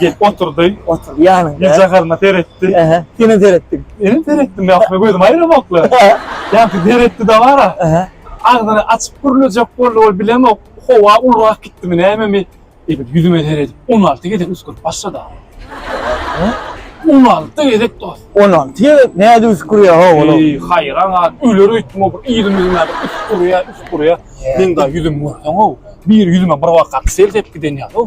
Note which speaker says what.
Speaker 1: Gelip oturdy. Oturdy ýanyňda.
Speaker 2: Ýüzjagaryna seretdi.
Speaker 1: Ähä. Senem seretdiň.
Speaker 2: Menem seretdim. Ýa-da
Speaker 1: gözüm aýramakly. Ýa-da seretdi dabara. Ähä. Agzyny
Speaker 2: açyp
Speaker 1: gürlejek boldy. Ol bilemok, howa ulurak gitdimi, nämemi. Edil ýüzüme seredip, on alty gezek üsgürip başlady aga. Hä? On alty gezek dost. On alty gezek nädip
Speaker 2: üsgürýär ho olam? Eý, haýran galyp, öler
Speaker 1: öýtdüm o bir yzym-yzyma bir üsgürýär, üsgürýär. Meň daýy ýüzümi görseň-ow, bir ýüzüme bir bakarka sel sepgiden ýaly-ow.